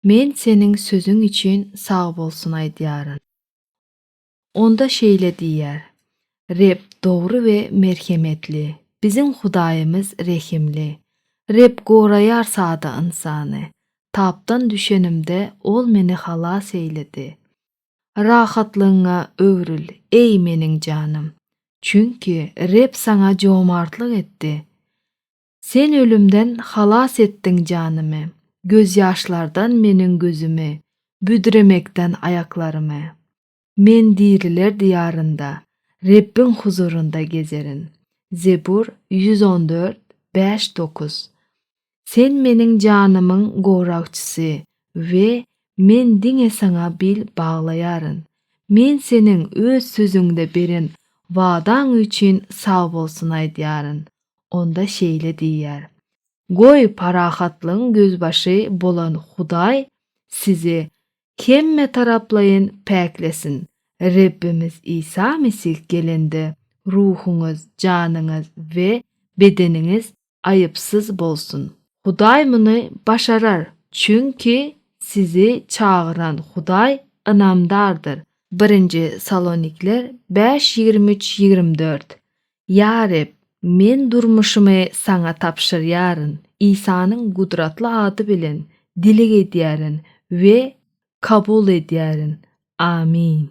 Men seniň sözüň üçin sagbolsun aýdýaryn. Onda şeýle diýýär, Reb dogry we merhemetli, biziň Hudaýymyz rehimli. Reb goraýar sada ynsany. Tapdan düşenimde, Ol meni halas eýledi. Rahatlygyňa öwrül, eý, meniň janym! Çünki Reb saňa jomartlyk etdi. Sen ölümden halas etdiň janymy, Gözýaşlardan meniň gözümi, Büdremekden aýaklarymy. Men diriler diýarynda, Rebbiň huzurynda gezerin. Zebur ýüz on dört, bäş, dokuz. Sen meniň janymyň goragçysy we men diňe Saňa bil baglaýaryn. Men Seniň Öz Sözüňde beren wadaň üçin sagbolsun aýdýaryn. onda şeýle diýýär, Goý, parahatlygyň gözbaşy bolan Hudaý sizi hemmetaraplaýyn päklesin! Rebbimiz Isa Mesih gelende, ruhuňyz, janyňyz we bedeniňiz aýypsyz bolsun. Hudaý muny başarar, çünki sizi çagyran Hudaý ynamdardyr. Birinji Salonikler bäş ýigrimi üç ýigrimi dört Ýa Reb, men durmuşymy Saňa tabşyrýaryn, Isanyň gudratly ady bilen dileg edýärin we kabul edýärin. Amin.